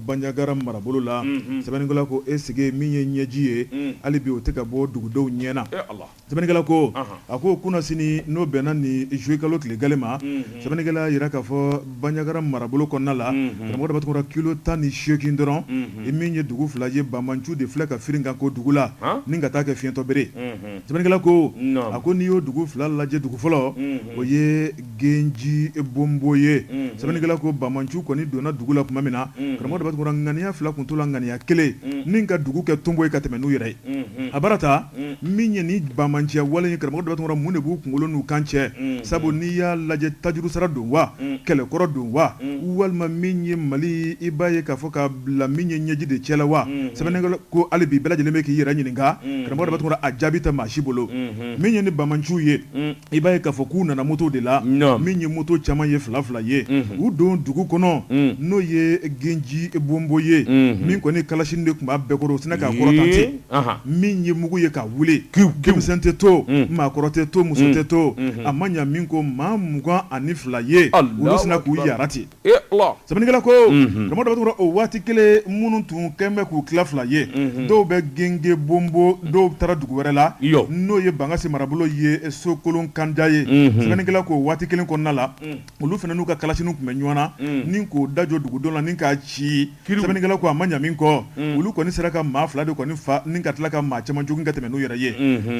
Bandiagara marabolo la sɛbɛnnikɛla ko est-ce que min ye ɲɛji ye hali bi o tɛ ka bɔ dugudenw ɲɛ na sɛbɛnnikɛla ko a ko kunnasini n'o bɛnna ni juillet kalo tile gale ma sɛbɛnnikɛla y'a jira k'a fɔ Bandiagara marabolo kɔnɔna la karamɔgɔ tun kilo tan ni seegin dɔrɔn i min ye dugu fila ye banbaanciw de filɛ ka firi ka ko dugu la ni ka taa kɛ fiyentɔ bere sɛbɛnnikɛla ko a ko n'i y'o dugu fila lajɛ dugu fɔlɔ o ye Genji Bonbo ye sɛbɛnnikɛla ko banbaanciw kɔni donna dugu la tuma min na karamɔgɔ tun ŋaniya fila tun t'u la ŋaniya kelen ni ka dugu kɛ tonbo ye ka tɛmɛ n'u yɛrɛ ye a bara ta min ye ni banbaanciya wale karamɔgɔ dɔ mun de b'u kunkolo n'u kan cɛ sabu n'i y'a lajɛ tajuru sara don wa kɛlɛkɔrɔ don wa walima min ye mali i b'a ye k'a fɔ ka bila min ye ɲɛji de cɛ la wa sɛbɛnnikɛla ko hali bi bɛɛ lajɛlen bɛ k'i yɛrɛ ɲininka karamɔgɔ a jaabi tɛ maa si bolo min ye ni banbaanciw ye I b'a ye k'a fɔ k'u nana moto de la min ye moto caman ye fila fila ye u don dugu kɔnɔ n'o ye Genji Bonbo ye min kɔni kalasini de tun b'a bɛɛ kɔrɔ u sinna k'a kɔrɔta ten min ye mugu ye ka wuli denmisɛn tɛ to maa kɔrɔ tɛ to muso tɛ to a ma ɲa min kɔ maa mugan ani fila ye olu sinna k'u jara ten Sɛbɛnnikɛla ko tuma dɔ o waati kelen minnu tun kɛlen bɛ k'u tila fila ye dɔw bɛ Genji Bonbo dɔw taara dugu wɛrɛ la n'o ye Bankasi marabolo ye sokolon kanda ye sɛbɛnnikɛla k'o waati kelen kɔnɔna la olu fana n'u ka kalasiniw tun bɛ ɲɔgɔn na ni k'o da jɔ dugudenw la ni k'a ci Sɛbɛnnikɛla ko a ma ɲa min kɔ olu kɔni sera ka maa fila de kɔni faa ni ka tila ka maa caman jogin ka tɛmɛ n'u yɛrɛ ye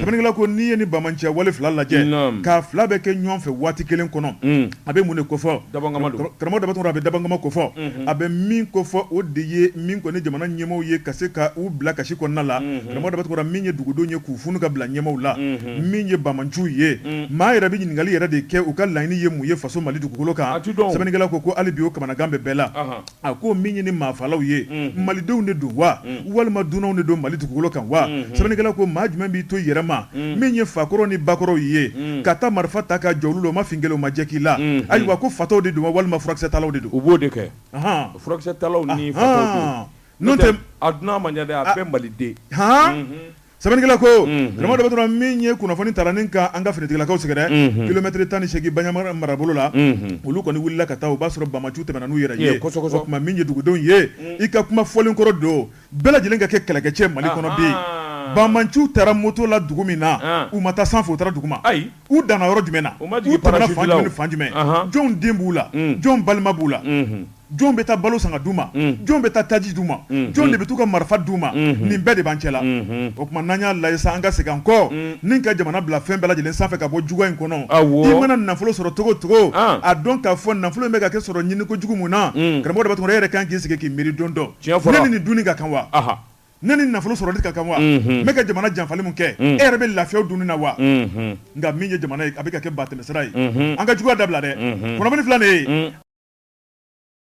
sɛbɛnnikɛla ko n'i ye ni banbaanciya wale fila lajɛ k'a fila bɛ kɛ ɲɔgɔn fɛ waati kelen kɔnɔ a bɛ mun de kofɔ karamɔgɔ datɔ a bɛ dabangama kofɔ a bɛ min kofɔ o de ye min kɔni jamana ɲɛmaaw ye ka se ka u bila kasi kɔnɔna la datɔ min ye dugudenw ye k'u funu ka bila ɲɛmaaw la min ye banbaanciw ye maa yɛrɛ bɛ ɲininkali yɛrɛ de kɛ u ka laɲini ye mun ye faso mali dugukolo kan sɛbɛnnikɛla ko hali bi o kamanagan bɛ bɛɛ la a ko min ye ni maafalaw ye malidenw de don wa walima dunanw de don mali dugukolo kan wa sɛbɛnnikɛla ko maa jumɛn b'i to yɛrɛma min ye fakɔrɔ ni bakɔrɔw ye ka taa marifa ta ka jɔ olu la o ma fin k'i la o ma jɛ k'i la ayiwa ko fatɔw de don wa walima furakisɛtalaw de don u b'o de kɛ furakisɛtalaw ni fatɔw don n'o tɛ a dunan man ca dɛ a bɛɛ maliden Sɛbɛnnikɛla ko karamɔgɔ dɔ dɔrɔn min ye kunnafoni taara ni ka an ka finitigilakaw sɛgɛrɛ kilomɛtiri tan ni seegin Bandiagara marabolo la olu kɔni wulila ka taa o b'a sɔrɔ banbaanciw tɛmɛna n'u yɛrɛ ye tuma min ye dugudenw ye i ka kuma fɔlen kɔrɔ don bɛɛ lajɛlen ka kɛ kɛlɛkɛcɛ mali kɔnɔ bi banbaanciw taara moto la dugu min na u ma taa sanfɛ u taara duguma u danna yɔrɔ jumɛn fan jumɛn jɔn den b'u la jɔn balima b'u la jɔn bɛ taa balo san ka d'u ma, unhun, jɔn bɛ taa taji d'u ma, unhun, jɔn de bɛ t'u ka marifa d'u ma, unhun, nin bɛɛ de b'an cɛla, unhun, o tuma n'an y'a lajɛ sa an ka segin an kɔ, un, ni ka jamana bila fɛn bɛɛ lajɛlen sanfɛ ka bɔ juguya in kɔnɔ, awɔ, i mana nafolo sɔrɔ cogo o cogo, an, a dɔn k'a fɔ nafolo in bɛ ka kɛ sɔrɔ ɲini ko jugu mun na, un, karamɔgɔ Dabatɛmɛ e yɛrɛ ka kan k'i sigi k'i miiri don dɔ, tiɲɛ fɔra, ne ni nin dunni ka kan wa, anhan ne ni nafolo sɔrɔli ka kan wa n bɛ ka jamana janfali min kɛ e yɛrɛ bɛ lafiya o dunni na wa nka min ye jamana ye a bɛ ka kɛ batɛmɛsira ye an ka juguya dabila dɛ kunnafoni filɛ nin ye